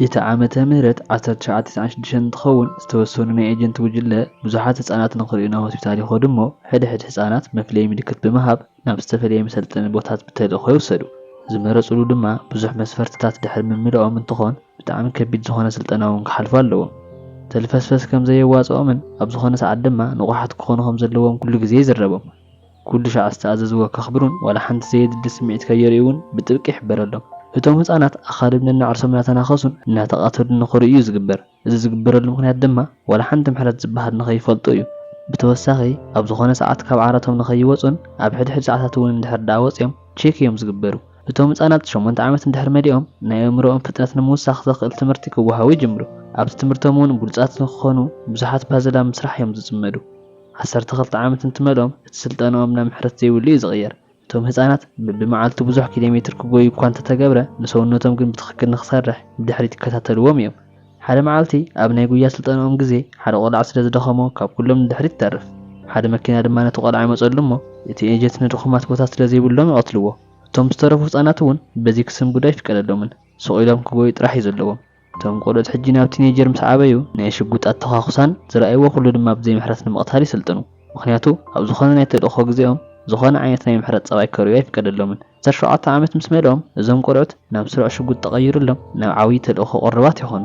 እቲ ዓመተ ምህረት ዓሰርተ ትሽዓተ ተስዓን ሽዱሽተን እንትኸውን ዝተወሰኑ ናይ ኤጀንት ጉጅለ ብዙሓት ህፃናት ንክሪኡ ናብ ሆስፒታል ይኸዱ እሞ ሕድ ሕድ ህፃናት መፍለዪ ምልክት ብምሃብ ናብ ዝተፈለየ መሰልጠኒ ቦታት ብተልእኾ ይውሰዱ። ዝመረፅሉ ድማ ብዙሕ መስፈርትታት ድሕሪ ምምላኦም እንትኾን ብጣዕሚ ከቢድ ዝኾነ ስልጠና እውን ክሓልፉ ኣለዎም። ተልፈስፈስ ከምዘየዋፅኦምን ኣብ ዝኾነ ሰዓት ድማ ንቑሓት ክኾኑ ከምዘለዎም ኩሉ ግዜ ይዝረቦም። ኩሉ ሻዕ ዝተኣዘዝዎ ከኽብሩን ዋላ ሓንቲ ዘየድሊ ስምዒት ከየርእዩን ብጥብቂ ይሕበረሎም። እቶም ህጻናት ኣኻልብ ነናዕርሶም እናተናኸሱን እናተቓተሉን ንኽርእዩ እዩ ዝግበር። እዚ ዝግበረሉ ምኽንያት ድማ ዋላ ሓንቲ ምሕረት ዝበሃል ንኸይፈልጡ እዩ። ብተወሳኺ ኣብ ዝኾነ ሰዓት ካብ ዓራቶም ንኸይወጹን ኣብ ሕድሕድ ሰዓታት እውን እንድሕር ደኣ ወጺኦም ቼክ እዮም ዝግበሩ። እቶም ህጻናት ሸሞንተ ዓመት እንድሕር መሊኦም ናይ ኣእምሮኦም ፍጥነት ንምውሳኽ ዘኽእል ትምህርቲ ክወሃቡ ይጅምሩ። ኣብቲ ትምህርቶም እውን ብሉጻት ንኽኾኑ ብዙሓት ፓዝል ኣብ ምስራሕ እዮም ዝጽመዱ። ዓሰርተ ክልተ ዓመት እንትመልኦም እቲ ስልጠናኦም ናብ ምሕረት ዘይብሉ እዩ ዝቕየር። እቶም ህጻናት በብመዓልቱ ብዙሕ ኪሎሜትር ክጎዩ እኳ እንተተገብረ፣ ንሰውነቶም ግን ብትኽክል ንኽሰርሕ ብድሕሪት ይከታተልዎም እዮም። ሓደ መዓልቲ ኣብ ናይ ጉያ ስልጠናኦም ግዜ ሓደ ቆልዓ ስለ ዝደኸሞ ካብ ኩሎም ንድሕሪት ይተርፍ። ሓደ መኪና ድማ ነቲ ቆልዓ ይመጸሉ እሞ እቲ ኤጀንት ንድኹማት ቦታ ስለ ዘይብሎም ይቐትልዎ። እቶም ዝተረፉ ህጻናት'ውን በዚ ክስንብዱ ኣይፍቀደሎምን። ስቕ ኢሎም ክጎዩ ጥራሕ እዩ ዘለዎም። እቶም ቆልዑት ሕጂ ናብ ቲኔጀር ምስ ዓበዩ ናይ ሽጉጥ ኣተዃኹሳን ዝረኣይዎ ኩሉ ድማ ብዘይ ምሕረት ንምቕታል ይስልጥኑ። ምኽንያቱ ኣብ ዝኾነ ናይ ተልእኾ ግዜኦም ዝኾነ ዓይነት ናይ ምሕረት ጸባይ ከርእዩ ኣይፍቀደሎምን። ዓሰርተ ሸውዓተ ዓመት ምስ መልኦም እዞም ቆልዑት ናብ ስሩዕ ሽጉጥ ተቐይርሎም ናብ ዓብይ ተልእኾ ቅሩባት ይኾኑ።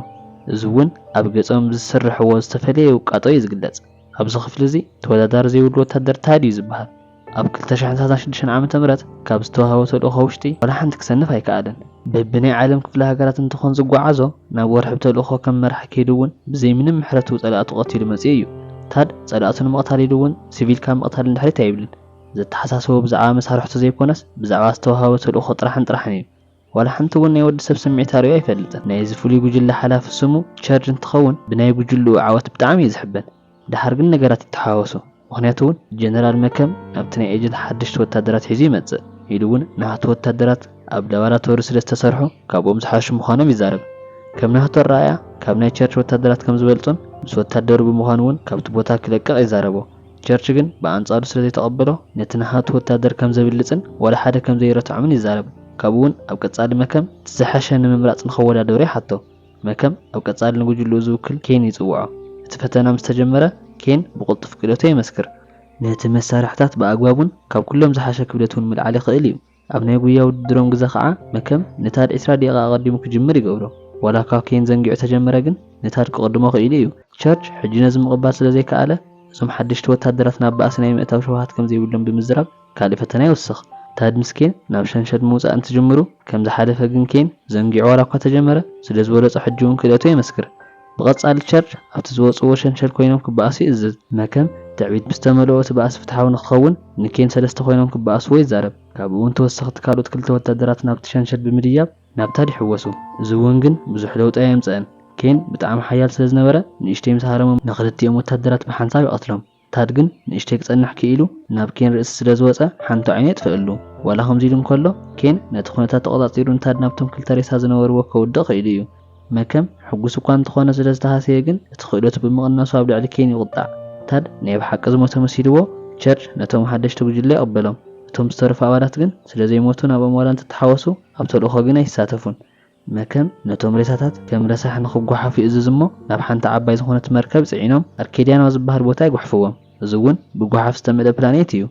እዚ እውን ኣብ ገጾም ብዝስርሕዎ ዝተፈለየ ውቃጦ እዩ ዝግለጽ። ኣብዚ ክፍሊ እዚ ተወዳዳሪ ዘይብሉ ወታደር ታድ እዩ ዝበሃል። ኣብ ክልተ ሽሕን ሰላሳን ሽዱሽተን ዓመተ ምህረት ካብ ዝተዋህቦ ተልእኾ ውሽጢ ዋላ ሓንቲ ክሰንፍ ኣይከኣለን። በቢ ናይ ዓለም ክፍለ ሃገራት እንትኾን ዝጓዓዞ፣ ናብ ወርሒ ብተልእኾ ከም መራሒ ከይዱ እውን ብዘይ ምንም ምሕረቱ ፀላእቱ ቀቲሉ መፂኡ እዩ። ታድ ፀላእቱ ንምቕታል ኢሉ እውን ስቪል ካብ ምቕታል ንድሕሪት ኣይብልን። ዘተሓሳስቦ ብዛዕባ መሳርሕቱ ዘይኮነስ ብዛዕባ ዝተዋህቦ ተልእኾ ጥራሕን ጥራሕን እዩ። ዋላ ሓንቲ እውን ናይ ወዲ ሰብ ስምዒት ኣርእዩ ኣይፈልጥን። ናይዚ ፍሉይ ጉጅለ ሓላፊ ስሙ ቸርድ እንትኸውን ብናይ ጉጅልኡ ዓወት ብጣዕሚ እዩ ዝሕበን። ደሓር ግን ነገራት ይተሓዋወሱ። ምኽንያቱ እውን ጀነራል መከም ናብቲ ናይ ኤጀንት ሓደሽቲ ወታደራት ሒዙ ይመፅእ። ኢሉ እውን ናህቱ ወታደራት ኣብ ላባራቶሪ ስለ ዝተሰርሑ ካብኦም ዝሓሹ ምዃኖም ይዛረብ። ከም ናህቱ ኣረኣእያ ካብ ናይ ቸርድ ወታደራት ከም ዝበልፁን ምስ ወታደሩ ብምዃን እውን ካብቲ ቦታ ክለቅቕ ይዛረቦ። ቸርች ግን ብኣንጻሩ ስለ ዘይተቐበሎ፣ ነቲ ነሃቱ ወተሃደር ከም ዘብልጽን ዋላ ሓደ ከም ዘይረትዖምን ይዛረብ። ካብኡ'ውን ኣብ ቀጻሊ መከም እቲ ዝሓሸ ንምምራጽ ንኸወዳደሩ ይሓቶ። መከም ኣብ ቀጻሊ ንጉጅልኡ ዝውክል ኬን ይጽውዖ። እቲ ፈተና ምስ ተጀመረ፣ ኬን ብቕልጡፍ ክእለቱ የመስክር። ነቲ መሳርሕታት ብኣግባቡን ካብ ኩሎም ዝሓሸ ክብደት'ውን ምልዓል ይኽእል እዩ። ኣብ ናይ ጉያ ውድድሮም ግዘ ከኣ መከም ንታድ ዕስራ ደቂቃ ኣቀዲሙ ክጅምር ይገብሮ ዋላ እኳ ኬን ዘንጊዑ ተጀመረ ግን ንታድ ክቅድሞ ክኢሉ እዩ ቸርች ሕጂ ነዚ ምቅባል ስለ ዘይከኣለ እዞም ሓደሽቲ ወታደራት ናብ ባእሲ ናይ ምእታው ሸውሃት ከም ዘይብሎም ብምዝራብ ካልእ ፈተና ይውስኽ ታድ ምስ ኬን ናብ ሸንሸል ምውጻእ እንትጅምሩ ከም ዝሓለፈ ግን ኬን ዘንጊዑ ዋላ እኳ ተጀመረ ስለ ዝበለጾ ሕጂ ውን ክእለቱ የመስክር ብቐጻሊ ቸርች ኣብቲ ዝወጽእዎ ሸንሸል ኮይኖም ክበኣሱ ይእዝዝ። መከም ትዕቢት ብዝተመልኦ እቲ ባእሲ ፍትሓዊ ንክኸውን፣ ንኬን ሰለስተ ኮይኖም ክበኣስዎ ይዛረብ። ካብኡ'ውን ተወሰኽቲ ካልኦት ክልተ ወተሃደራት ናብቲ ሸንሸል ብምድያብ ናብ ታድ ይሕወሱ። እዚ'ውን ግን ብዙሕ ለውጢ ኣየምጽእን። ኬን ብጣዕሚ ሓያል ስለዝነበረ ንእሽተይ ምስ ሃረሞም ንኽልቲኦም ወተሃደራት ብሓንሳብ ይቐትሎም። ታድ ግን ንእሽተይ ክጸንሕ ክኢሉ ናብ ኬን ርእሲ ስለ ዝወጸ ሓንቲ ዓይኑ የጥፈኣሉ። ዋላ ከምዚ ኢሉ እንከሎ፣ ኬን ነቲ ኩነታት ተቖጻጺሩ ንታድ ናብቶም ክልተ ሬሳ ዝነበርዎ ከውድቕ ክኢሉ እዩ። መከም ሕጉስ እኳ እንተኾነ ስለ ዝተሃሰየ ግን እቲ ክእለቱ ብምቕናሱ ኣብ ልዕሊ ኬን ይቑጣዕ። ታድ ናይ ብሓቂ ዝሞተ መሲልዎ ቸርች ነቶም ሓደሽቲ ጉጅለ ይቕበሎም። እቶም ዝተረፉ ኣባላት ግን ስለ ዘይሞቱ ናብኦም ዋላ እንተተሓወሱ ኣብ ተልእኾ ግን ኣይሳተፉን። መከም ነቶም ሬሳታት ከም ረሳሕ ንኽጓሓፍ ይእዝዝ እሞ ናብ ሓንቲ ዓባይ ዝዀነት መርከብ ጽዒኖም ኣርኬድያን ኣብ ዝበሃል ቦታ ይጉሕፍዎም። እዚ እውን ብጓሓፍ ዝተመልአ ፕላኔት ኢዩ።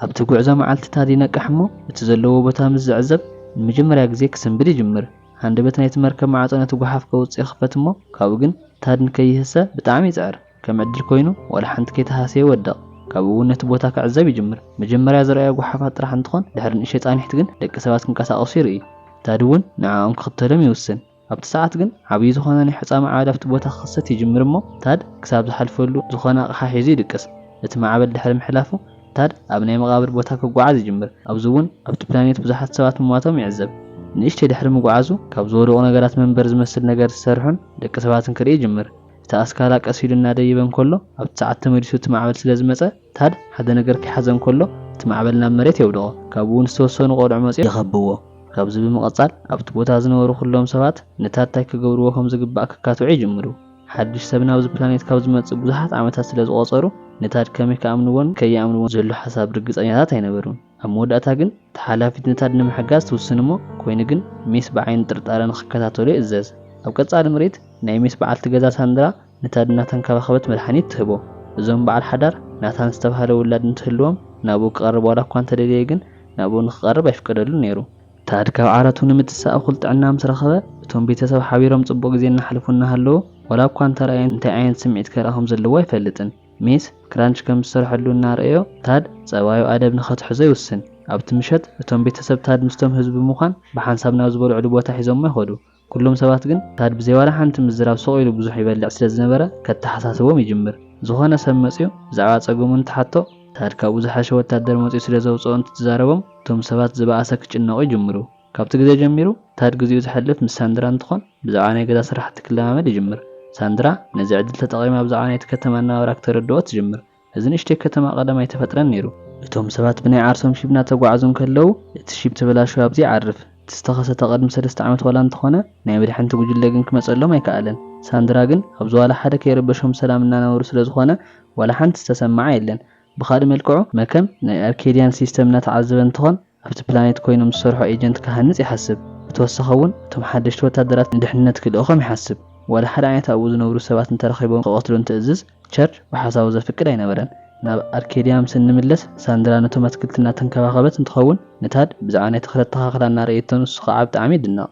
ኣብቲ ጕዕዞ መዓልቲ ታድ ይነቅሕ እሞ እቲ ዘለዎ ቦታ ምስ ዝዕዘብ ንመጀመርያ ግዜ ክስንብድ ይጅምር። ሃንደበት ናይቲ መርከብ ማዕጾ ነቲ ጓሓፍ ከውጽእ ይኽፈት እሞ ካብኡ ግን ታድ ንከይህሰ ብጣዕሚ ይጽዕር። ከም ዕድል ኮይኑ ዋላ ሓንቲ ከይተሃሰየ ይወድቕ። ካብኡ እውን ነቲ ቦታ ክዕዘብ ይጅምር። መጀመርያ ዝረኣዮ ጓሓፋት ጥራሕ እንትኾን ድሕሪ ንእሽተይ ፃኒሕት ግን ደቂ ሰባት ክንቀሳቐሱ ይርኢ። ታዲ እውን ንዐኦም ክኽተሎም ይውስን። ኣብቲ ሰዓት ግን ዓብይ ዝኾነ ናይ ሑፃ ማዕበል ኣብቲ ቦታ ክኽሰት ይጅምር እሞ ታድ ክሳብ ዝሓልፈሉ ዝኾነ ኣቕሓ ሒዙ ይድቅስ። እቲ ማዕበል ድሕሪ ምሕላፉ ታድ ኣብ ናይ መቓብር ቦታ ክጓዓዝ ይጅምር። ኣብዚ እውን ኣብቲ ፕላኔት ብዙሓት ሰባት ምሟቶም ይዕዘብ። ንእሽተይ ድሕሪ ምጉዓዙ ካብ ዝወደቑ ነገራት መንበር ዝመስል ነገር ዝሰርሑን ደቂ ሰባትን ክርኢ ይጅምር። እቲ ኣስካላ ቀስ ኢሉ እናደይበ እንከሎ ኣብቲ ሰዓት ተመሊሱ እቲ ማዕበል ስለ ዝመጸ ታድ ሓደ ነገር ከይሓዘ እንከሎ እቲ ማዕበል ናብ መሬት የውድቖ። ካብኡ እውን ዝተወሰኑ ቆልዑ መጺኦም ይኸብብዎ። ካብዚ ብምቕጻል ኣብቲ ቦታ ዝነበሩ ኩሎም ሰባት ንታድ ታይ ክገብርዎ ከም ዝግባእ ከካትዑ ይጅምሩ። ሓድሽ ሰብ ናብዚ ፕላኔት ካብ ዝመጽእ ብዙሓት ዓመታት ስለ ዝቖጸሩ ንታድ ከመይ ክኣምንዎን ከይኣምንዎን ዝህሉ ሓሳብ ርግጸኛታት ኣይነበሩን። ኣብ መወዳእታ ግን። ተሓላፊትነታት ንምሕጋዝ ትውስን'ሞ ኮይኑ ግን ሜስ ብዓይኒ ጥርጣረ ንኽከታተሎ ይእዘዝ። ኣብ ቀጻሊ ምርኢት ናይ ሜስ በዓልቲ ገዛ ሳንድራ ንታድ እናተንከባኸበት መድሓኒት ትህቦ። እዞም በዓል ሓዳር ናታን ዝተባህለ ውላድ እንትህልዎም ናብኡ ክቐርብ ዋላ'ኳ እንተደለየ ግን ናብኡ ንኽቐርብ ኣይፍቀደሉን ነይሩ። ታድ ካብ ዓራቱ ንምትሳእ እኹል ጥዕና ምስ ረኸበ እቶም ቤተሰብ ሓቢሮም ጽቡቕ ግዜ እናሕልፉ እናሃለዉ ዋላ'ኳ እንተረኣየ እንታይ ዓይነት ስምዒት ከርኢ ከም ዘለዎ ኣይፈልጥን። ሜስ ክራንች ከም ዝሰርሐሉ እናርኣዮ፣ ታድ ጸባዩ ኣደብ ንኸትሕዞ ይውስን። ኣብቲ ምሸት፣ እቶም ቤተሰብ ታድ ምስቶም ህዝቢ ብምዃን ብሓንሳብ ናብ ዝበልዕሉ ቦታ ሒዞሞ ይኸዱ። ኩሎም ሰባት ግን ታድ ብዘይ ዋላ ሓንቲ ምዝራብ ስቕ ኢሉ ብዙሕ ይበልዕ ስለ ዝነበረ ከተሓሳስቦም ይጅምር። ዝኾነ ሰብ መጺኡ ብዛዕባ ጸገሙ እንትሓቶ፣ ታድ ካብኡ ዝሓሸ ወታደር መጺኡ ስለ ዘውጽኦ እንትትዛረቦም፣ እቶም ሰባት ዝበኣሰ ክጭነቑ ይጅምሩ። ካብቲ ግዜ ጀሚሩ ታድ ግዚኡ ዘሕልፍ ምስ ሳንድራ እንትኾን ብዛዕባ ናይ ገዛ ስራሕቲ ክለማመድ ይጅምር። ሳንድራ ነዚ ዕድል ተጠቒማ ብዛዕባ ናይቲ ከተማ ኣነባብራ ክተረድኦ ትጅምር። እዚ ንእሽተይ ከተማ ቀደም ኣይተፈጥረን ነይሩ። እቶም ሰባት ብናይ ዓርሶም ሺብ እናተጓዕዙ እንከለዉ እቲ ሺብ ተበላሽዩ ኣብዚ ይዓርፍ። እቲ ዝተኸሰተ ቅድሚ ሰለስተ ዓመት ዋላ እንተኾነ ናይ መድሕንቲ ጉጅለ ግን ክመጸሎም ኣይከኣለን። ሳንድራ ግን ኣብዚ ዋላ ሓደ ከይረበሾም ብሰላም እናነበሩ ስለዝኾነ ዋላ ሓንቲ ዝተሰመዓ የለን። ብኻልእ መልክዑ መከም ናይ ኣርኬድያን ሲስተም እናተዓዘበ እንትኾን፣ ኣብቲ ፕላኔት ኰይኑ ምስ ዝሰርሖ ኤጀንት ክሃንጽ ይሓስብ። ብተወሳኺ እውን እቶም ሓደሽቲ ወተሃደራት ንድሕንነት ክልእኾም ይሓስብ። ዋላ ሓደ ዓይነት ኣብኡ ዝነብሩ ሰባት እንተ ረኺቦም ክቐትሉ እንትእዝዝ፣ ቸርች ብሓሳቡ ዘፍቅድ ኣይነበረን። ናብ ኣርኬድያ ምስ እንምለስ፣ ሳንድራ ነቶም ኣትክልቲ እናተንከባኸበት እንትኸውን፣ ንታድ ብዛዕባ ናይ ተኽሊ ኣተኻኽላ እናርእየቶ ንሱ ኸኣ ብጣዕሚ ይድነቕ።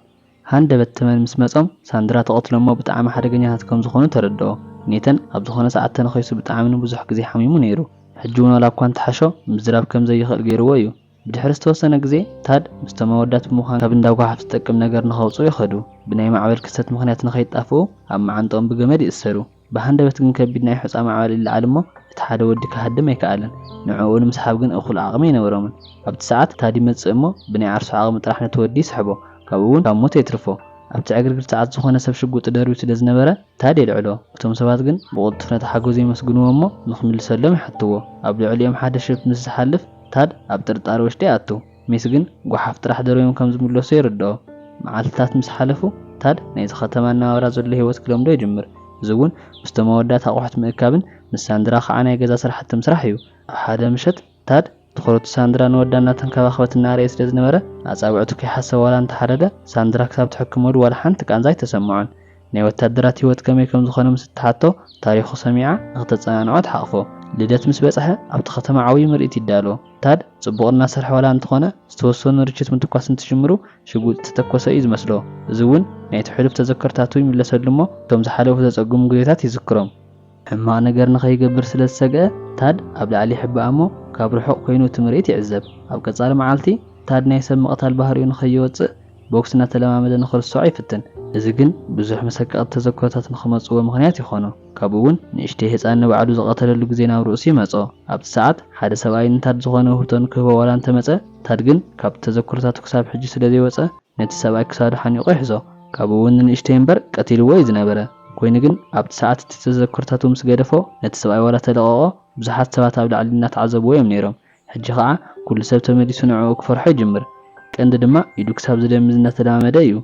ሃንደበት ተመን ምስ መጾም ሳንድራ ትቐትሎሞ ብጣዕሚ ሓደገኛታት ከም ዝኾኑ ተረድኦ። ኔተን ኣብ ዝኾነ ሰዓት ተነኺሱ ብጣዕሚ ንብዙሕ ግዜ ሓሚሙ ነይሩ። ሕጂ እውን ዋላ እኳ እንተሓሾ ምዝራብ ከም ዘይኽእል ገይርዎ እዩ። ብድሕሪ ዝተወሰነ ግዜ ታድ ምስቶም ኣወዳት ብምዃን ካብ እንዳ ጓሓፍ ዝጠቅም ነገር ንኸውጽኡ ይኸዱ። ብናይ ማዕበል ክስተት ምኽንያት ንኸይጣፍኡ ኣብ መዓንጠኦም ብገመድ ይእሰሩ። ብሃንደበት ግን ከቢድ ናይ ሑጻ ማዕበል ይለዓል እሞ እቲ ሓደ ወዲ ክሃድም ኣይከኣለን። ንዕኡ ንምስሓብ ግን እኹል ዓቕሚ ኣይነበሮምን። ኣብቲ ሰዓት ታዲ ይመጽእ እሞ ብናይ ዓርሱ ዓቕሚ ጥራሕ ነቲ ወዲ ይስሕቦ፣ ካብኡ እውን ካብ ሞት የትርፎ። ኣብቲ ዕግርግር ሰዓት ዝኾነ ሰብ ሽጉጡ ደርብዩ ስለ ዝነበረ ታዲ የልዕሎ። እቶም ሰባት ግን ብቕልጡፍ ነቲ ሓገዙ የመስግንዎ እሞ ንክምልሰሎም ይሓትዎ። ኣብ ልዕሊኦም ሓደ ሽፍት ምስ ዝሓልፍ ታድ ኣብ ጥርጣረ ወሽጢ ይኣቱ። ሜሲ ግን ጓሓፍ ጥራሕ ደርብዮም ከም ዝምለሱ የረድኦ። መዓልትታት ምስ ሓለፉ፣ ታድ ናይዚ ኸተማ ኣነባብራ ዘሎ ህይወት ክለምዶ ይጅምር፣ እዚ እውን ምስቶም ኣወዳት ኣቑሑት ምእካብን ምስ ሳንድራ ኸኣ ናይ ገዛ ስራሕቲ ምስራሕ እዩ። ኣብ ሓደ ምሸት፣ ታድ ትኹረቱ ሳንድራ ንወዳ እናተንከባኸበት እናርኣየ ስለ ዝነበረ፣ ኣጻብዕቱ ከይሓሰበ ዋላ እንተ ሓደገ፣ ሳንድራ ክሳብ ትሕክመሉ ዋላ ሓንቲ ቃንዛ ኣይተሰምዖን። ናይ ወታደራት ህይወት ከመይ ከም ዝኾነ ምስ እትሓቶ፣ ታሪኹ ሰሚዓ ንክተጸናንዖ ትሓቕፎ። ልደት ምስ በጽሐ፣ ኣብቲ ከተማ ዓብዪ ምርኢት ይዳሎ። ታድ ጽቡቕ እናሰርሐ ዋላ እንተኾነ፣ ዝተወሰኑ ርችት ምትኳስ እንትጅምሩ ሽጉጥ ዝተተኮሰ እዩ ዝመስሎ። እዚ እውን ናይቲ ሕሉፍ ተዘከርታቱ ይምለሰሉ እሞ፣ እቶም ዝሓለፉ ዘጸግሙ ግዜታት ይዝክሮም። ሕማቕ ነገር ንኸይገብር ስለ ዝሰግኣ፣ ታድ ኣብ ላዕሊ ይሕባእ እሞ ካብ ርሑቕ ኰይኑ እቲ ምርኢት ይዕዘብ። ኣብ ቀጻሊ መዓልቲ፣ ታድ ናይ ሰብ ምቕታል ባህሪኡ ንኸይወጽእ ቦክስ እናተለማመደ ንኽርስዖ ይፍትን። እዚ ግን ብዙሕ መሰቀቕቲ ተዘክሮታት ንኽመጽዎ ምኽንያት ይዀኖ። ካብኡ'ውን ንእሽተይ ህጻን ንባዕሉ ዝቐተለሉ ግዜ ናብ ርእሱ ይመጾ። ኣብቲ ሰዓት፣ ሓደ ሰብኣይ ንታድ ዝዀነ ውህብቶ ንክህቦ ዋላ እንተ መጸ፣ ታድ ግን ካብቲ ተዘክሮታቱ ክሳብ ሕጂ ስለ ዘይወጸ ነቲ ሰብኣይ ክሳዱ ሓኒቑ ይሕዞ። ካብኡ'ውን ንንእሽተይ እምበር ቀቲልዎ'ዩ ዝነበረ። ኮይኑ ግን ኣብቲ ሰዓት እቲ ተዘክሮታቱ ምስ ገደፎ ነቲ ሰብኣይ ዋላ ተለቐቖ ብዙሓት ሰባት ኣብ ላዕሊ እናተዓዘብዎ እዮም ነይሮም ሕጂ ኸኣ ኩሉ ሰብ ተመሊሱ ንዕኡ ክፈርሖ ይጅምር ቀንዲ ድማ ኢዱ ክሳብ ዝደምዝ እናተለማመደ እዩ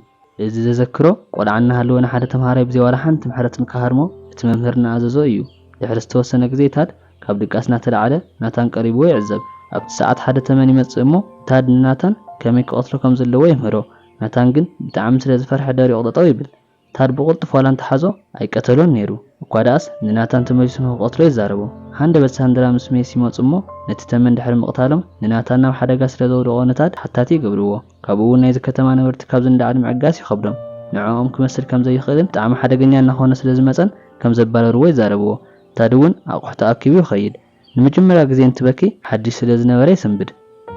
እዚ ዘዘክሮ። ቆልዓ እናሃለወ ንሓደ ተምሃራይ ብዘይ ዋላ ሓንቲ ምሕረት ንክሃርሞ እቲ መምህር እናኣዘዞ እዩ ድሕሪ ዝተወሰነ ግዜ ታድ ካብ ድቃስ እናተላዕለ ናታን ቀሪብዎ ይዕዘብ ኣብቲ ሰዓት ሓደ ተመን ይመጽእ እሞ ታድ ንናታን ከመይ ክቐትሎ ከም ዘለዎ ይምህሮ ናታን ግን ብጣዕሚ ስለ ዝፈርሐ ደሪቑ ጠጠው ይብል ታድ ብቕልጡፍ ዋላ እንተ ሓዞ ኣይቀተሎን ነይሩ፣ እኳ ደኣስ ንናታን ተመሊሱ ንኽቐትሎ ይዛረቦ። ሃንደበት ሳንድራ ምስ ሜስ ይመጹ እሞ ነቲ ተመን ድሕሪ ምቕታሎም ንናታን ናብ ሓደጋ ስለ ዘውድቖ ንታድ ሓታቲ ይገብርዎ። ካብኡ'ውን ናይዚ ከተማ ነበርቲ ካብዚ ንላዕሊ ምዕጋስ ይኸብዶም። ንዕኦም ክመስል ከም ዘይኽእልን ብጣዕሚ ሓደገኛ እናኾነ ስለ ዝመጸን ከም ዘባረርዎ ይዛረብዎ። ታድ'ውን ኣቑሑቱ ኣኪቡ ይኸይድ። ንመጀመርያ ግዜ እንትበኪ ሓድሽ ስለ ዝነበረ ይስንብድ።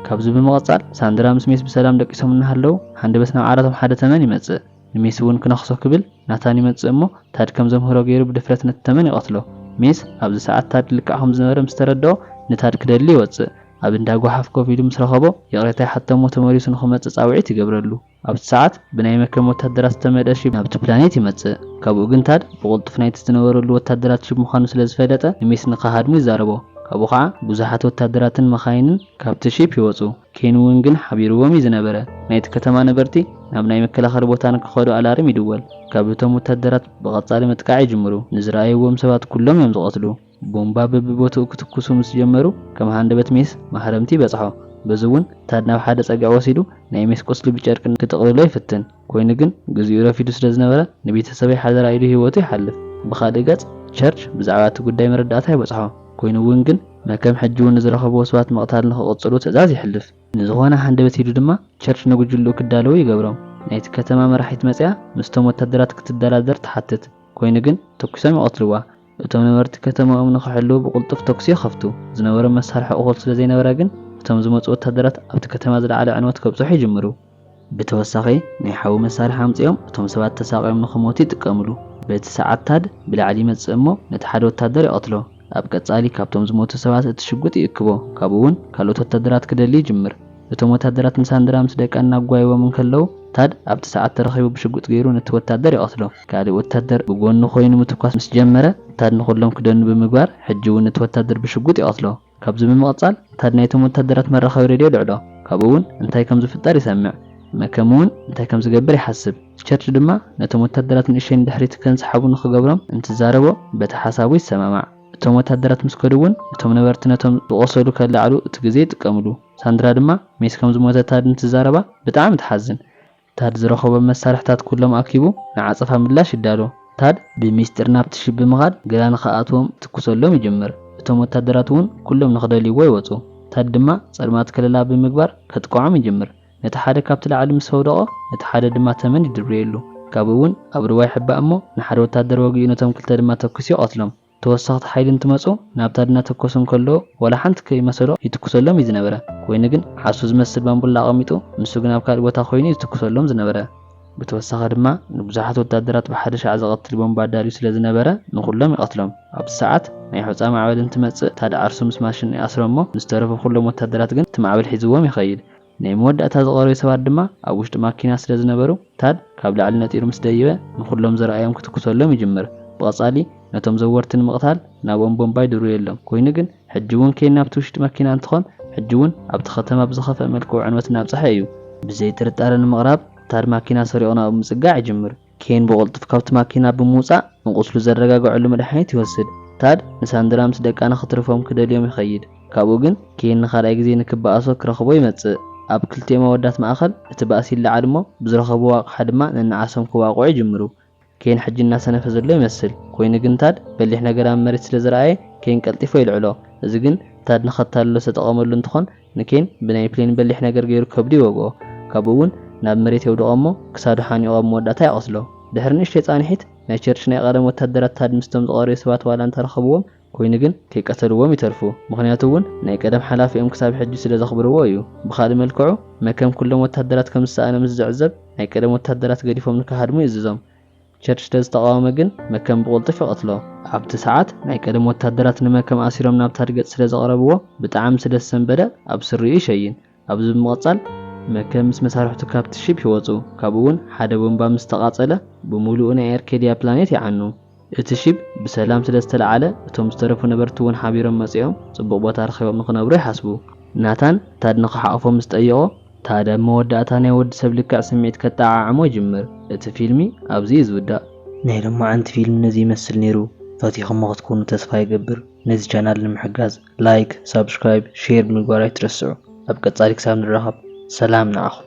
ካብዚ ብምቕጻል ሳንድራ ምስ ሜስ ብሰላም ደቂሶም እናሃለዉ ሃንደበት ናብ ዓራቶም ሓደ ተመን ይመጽእ። ንሜስ እውን ክነኽሶ ክብል ናታን ይመጽእ እሞ ታድ ከም ዘምህሮ ገይሩ ብድፍረት ነቲ ተመን ይቐትሎ። ሜስ ኣብዚ ሰዓት ታድ ልክዕ ከም ዝነበረ ምስ ተረድኦ ንታድ ክደሊ ይወጽእ። ኣብ እንዳ ጎሓፍ ኮፍ ኢሉ ምስ ረኸቦ ይቕሬታ ይሓቶ እሞ ተመሊሱ ንኽመጽእ ጻውዒት ይገብረሉ። ኣብቲ ሰዓት ብናይ መከም ወታደራት ዝተመልአ ሺፕ ናብቲ ፕላኔት ይመጽእ። ካብኡ ግን ታድ ብቕልጡፍ ናይቲ ዝነበረሉ ወታደራት ሺፕ ምዃኑ ስለ ዝፈለጠ ንሚስ ንኸሃድሞ ይዛረቦ። ካብኡ ኸኣ ብዙሓት ወታደራትን መኻይንን ካብቲ ሺፕ ይወጹ። ኬን እውን ግን ሓቢርዎም እዩ ዝነበረ። ናይቲ ከተማ ነበርቲ ናብ ናይ መከላኸሊ ቦታ ንክኸዱ ኣላርም ይድወል። ካብ እቶም ወታደራት ብቐጻሊ ምጥቃዕ ይጅምሩ። ንዝረኣይዎም ሰባት ኩሎም እዮም ዝቐትሉ። ቦምባ በቢቦትኡ ክትኩሱ ምስ ጀመሩ ከም ሃንደበት ሜስ ማህረምቲ በጽሖ። በዚ እውን ታድ ናብ ሓደ ጸግዒ ወሲዱ ናይ ሜስ ቁስሊ ብጨርቂ ክጥቕልሎ ይፍትን። ኮይኑ ግን ግዜኡ ረፊዱ ስለ ዝነበረ ንቤተሰበይ ሓደራ ኢሉ ህይወቱ ይሓልፍ። ብኻልእ ገጽ ቸርች ብዛዕባ እቲ ጉዳይ መረዳእታ ይበጽሖ። ኮይኑ እውን ግን መከም ሕጂ እውን ንዝረኸብዎ ሰባት ምቕታል ንኽቕጽሉ ትእዛዝ የሕልፍ። ንዝኾነ ሃንደበት ኢሉ ድማ ቸርች ንጉጅልኡ ክዳለዉ ይገብሮም። ናይቲ ከተማ መራሒት መጺኣ ምስቶም ወታደራት ክትደራደር ትሓትት። ኮይኑ ግን ተኩሶም ይቐትልዋ። እቶም ነበርቲ ከተማኦም ንኽሕልዉ ብቕልጡፍ ተኵሲ ይኸፍቱ። ዝነበሮም መሳርሒ እኹል ስለ ዘይነበረ ግን እቶም ዝመጹ ወተሃደራት ኣብቲ ከተማ ዝለዓለ ዕንወት ከብጽሑ ይጅምሩ። ብተወሳኺ ናይ ሓዊ መሳርሒ ኣምጺኦም እቶም ሰባት ተሳቕዮም ንኽሞቱ ይጥቀምሉ። በቲ ሰዓት ታድ ብላዕሊ ይመጽእ እሞ ነቲ ሓደ ወተሃደር ይቐትሎ። ኣብ ቀጻሊ ካብቶም ዝሞቱ ሰባት እቲ ሽጉጥ ይእክቦ፣ ካብኡ'ውን ካልኦት ወተሃደራት ክደሊ ይጅምር። እቶም ወተሃደራት ንሳንድራ ምስ ደቃ እናጓይዎም እንከለዉ፣ ታድ ኣብቲ ሰዓት ተረኺቡ ብሽጉጥ ገይሩ ነቲ ወተሃደር ይቐትሎ። ካልእ ወተሃደር ብጎኑ ኮይኑ ምትኳስ ምስ ጀመረ፣ ታድ ንኹሎም ክደኑ ብምግባር ሕጂ እውን ነቲ ወተሃደር ብሽጉጥ ይቐትሎ። ካብዚ ብምቕጻል ታድ ናይቶም ወተሃደራት መራኸቢ ሬድዮ የልዕሎ፣ ካብኡ እውን እንታይ ከም ዝፍጠር ይሰምዕ። መከም እውን እንታይ ከም ዝገብር ይሓስብ። ቸርች ድማ ነቶም ወተሃደራት ንእሽተይ ንድሕሪት ከንሰሓቡ ንኽገብሮም እንትዛረቦ በቲ ሓሳቡ ይሰማማዕ። እቶም ወተሃደራት ምስ ከዱ እውን እቶም ነበርቲ ነቶም ዝቖሰሉ ከለዓዕሉ እቲ ግዜ ይጥቀምሉ። ሳንድራ ድማ ሜሲ ከም ዝሞተ ታድ እንትዛረባ ብጣዕሚ ትሓዝን። ታድ ዝረኸቦም መሳርሕታት ኩሎም ኣኪቡ ንዓጸፋ ምላሽ ይዳሎ። ታድ ብሚስጢር ናብቲ ሽብ ብምኻድ ገላ ንኸኣትዎም ይትኩሰሎም ይጅምር። እቶም ወተሃደራት እውን ኩሎም ንኽደልይዎ ይወጹ። ታድ ድማ ጸልማት ከለላ ብምግባር ከጥቅዖም ይጅምር። ነቲ ሓደ ካብቲ ላዕሊ ምስ ኣውደቖ፣ ነቲ ሓደ ድማ ተመን ይድርብየሉ። ካብኡ እውን ኣብ ሩባ ይሕባእ እሞ፣ ንሓደ ወታደር ወጊኡ ነቶም ክልተ ድማ ተኲሱ ይቐትሎም። ተወሰኽቲ ሓይሊ እንትመጹ፣ ናብታ ድናተኮሱ እንከለዉ ዋላ ሓንቲ ከይመሰሎ ይትኩሰሎም እዩ ዝነበረ። ኮይኑ ግን ዓሱ ዝመስል ባምቡላ ኣቐሚጡ፣ ንሱ ግን ኣብ ካልእ ቦታ ኮይኑ እዩ ዝትኩሰሎም ዝነበረ። ብተወሳኺ ድማ ንብዙሓት ወታደራት ብሓደ ሻዕ ዝቐትል ቦምባ ኣዳልዩ ስለ ዝነበረ፣ ንኹሎም ይቐትሎም። ኣብዚ ሰዓት ናይ ሑጻ ማዕበል እንትመጽእ፣ ታድ ዓርሱ ምስ ማሽን ይኣስሮ እሞ፣ ንዝተረፉ ኩሎም ወታደራት ግን እቲ ማዕበል ሒዝዎም ይኸይድ። ናይ መወዳእታ ዝቐረዩ ሰባት ድማ ኣብ ውሽጢ ማኪና ስለ ዝነበሩ፣ ታድ ካብ ላዕሊ ነጢሩ ምስ ደይበ ንኹሎም ዝረኣዮም ክትኩሰሎም ይጅምር። ብቐጻሊ ነቶም ዘወርቲ ንምቕታል ናብኦም ቦምባ ይድርብየሎም። ኮይኑ ግን ሕጂ ውን ኬን ናብቲ ውሽጢ ማኪና እንትኾን ሕጂ ውን ኣብቲ ከተማ ብዝኸፍኣ መልክዑ ዕንወት እናብጽሐ እዩ። ብዘይ ጥርጣረ ንምቕራብ ታድ ማኪና ሰሪቑ ናብኡ ምጽጋዕ ይጅምር። ኬን ብቕልጡፍ ካብቲ ማኪና ብምውጻእ ንቝስሉ ዘረጋግዐሉ መድሃኒት ይወስድ። ታድ ንሳንድራ ምስ ደቃ ንኽትርፎም ክደልዮም ይኸይድ። ካብኡ ግን ኬን ንኻልኣይ ግዜ ንክበኣሶ ክረኽቦ ይመጽእ። ኣብ ክልቲኦም ኣወዳት ማእከል እቲ ባእሲ ይለዓል እሞ ብዝረኸብዎ ኣቕሓ ድማ ነንዓሶም ክዋቕዑ ይጅምሩ። ኬን ሕጂ እናሰነፈ ዘሎ ይመስል። ኰይኑ ግን ታድ በሊሕ ነገር ኣብ መሬት ስለ ዝረኣየ ኬን ቀልጢፉ የልዕሎ። እዚ ግን ታድ ንኸታልሎ ዝተጠቐመሉ እንትዀን ንኬን ብናይ ፕሌን በሊሕ ነገር ገይሩ ከብዱ ይወግኦ፣ ካብኡ እውን ናብ መሬት የውድቖ እሞ ክሳዱ ሓኒቑ ኣብ መወዳእታ ይቖስሎ። ድሕሪ ንእሽተይ ጻንሒት፣ ናይ ቸርች ናይ ቐደም ወተሃደራት ታድ ምስቶም ዝቐረዩ ሰባት ዋላ እንተ ረኸብዎም፣ ኮይኑ ግን ከይቀተልዎም ይተርፉ፣ ምኽንያቱ እውን ናይ ቀደም ሓላፊኦም ክሳብ ሕጂ ስለ ዘኽብርዎ እዩ። ብኻልእ መልክዑ፣ መከም ኩሎም ወተሃደራት ከም ዝሰኣነ ምስ ዝዕዘብ፣ ናይ ቀደም ወተሃደራት ገዲፎም ንክሃድሙ ይእዝዞም። ቸርች ተዝተቃወመ ግን መከም ብቁልጡፍ ይቀትሎ ኣብቲ ሰዓት ናይ ቀደም ወታደራት ንመከም ኣሲሮም ናብ ታድገጽ ስለ ዘቅረብዎ ብጣዕሚ ስለ ዝሰንበደ ኣብ ስሪኡ ይሸይን ኣብዚ ብምቅጻል መከም ምስ መሳርሕቱ ካብቲ ሺፕ ይወጹ ካብኡ ውን ሓደ ቦምባ ምስ ተቃጸለ ብሙሉኡ ናይ ኣርኬድያ ፕላኔት ይዓኑ እቲ ሺፕ ብሰላም ስለ ዝተልዓለ እቶም ዝተረፉ ነበርቲ ውን ሓቢሮም መጺኦም ጽቡቅ ቦታ ረኪቦም ንክነብሩ ይሓስቡ ናታን ታድ ንክሓቁፎ ምስ ጠየቆ ታዲያ ኣብ መወዳእታ ናይ ወዲ ሰብ ልክዕ ስምዒት ከጠዓዕሞ ይጅምር እቲ ፊልሚ ኣብዚ እዩ ዝውዳእ። ናይ ሎማዓንቲ ፊልም ነዚ ይመስል ኔሩ ፈቲኹሞ ክትኮኑ ተስፋ ይገብር ነዚ ቻናል ንምሕጋዝ ላይክ ሳብስክራይብ ሼር ብምግባር ኣይትረስዑ ኣብ ቀጻሊ ክሳብ ንራኸብ ሰላም ንዓኹም።